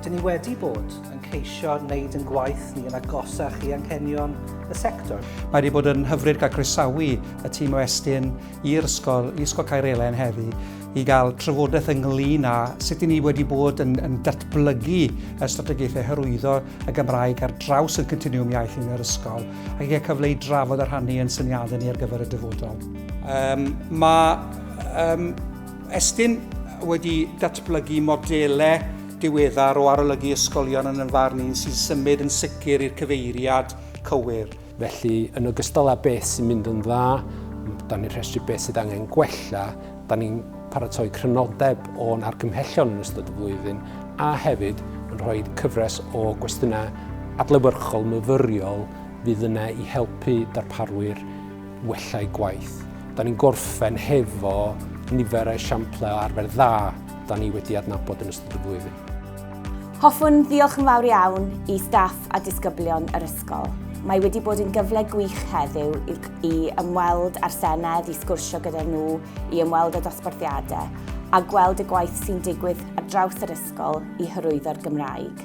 Dyn ni wedi bod yn ceisio wneud yn gwaith ni yn agosach i anghenion y sector. Mae wedi bod yn hyfryd cael croesawu y tîm o Estyn i'r ysgol, i Ysgol Caerelen heddi, i gael trafodaeth ynglyn â sut i ni wedi bod yn, yn datblygu y strategaethau hyrwyddo y Gymraeg ar draws y continwm iaith yn yr ysgol, ac i gael cyfle i drafod a rhannu yn syniadau ni ar gyfer y dyfodol. Um, mae um, Estyn wedi datblygu modelau diweddar o arolygu ysgolion yn y farn un sy'n symud yn sicr i'r cyfeiriad cywir. Felly, yn ogystal â beth sy'n mynd yn dda, da ni'n rhestru beth sydd angen gwella, da ni'n paratoi crynodeb o'n argymhellion yn ystod y flwyddyn a hefyd yn rhoi cyfres o gwestiynau adlewyrchol myfyriol fydd yna i helpu darparwyr wella'u gwaith. Da ni'n gorffen hefo nifer o esiamplau o arfer dda da ni wedi adnabod yn ystod y flwyddyn. Hoffwn ddiolch yn fawr iawn i staff a disgyblion yr ysgol. Mae wedi bod yn gyfle gwych heddiw i ymweld â'r Senedd, i sgwrsio gyda nhw, i ymweld â dosbarthiadau a gweld y gwaith sy'n digwydd ar draws yr ysgol i hyrwyddo'r Gymraeg.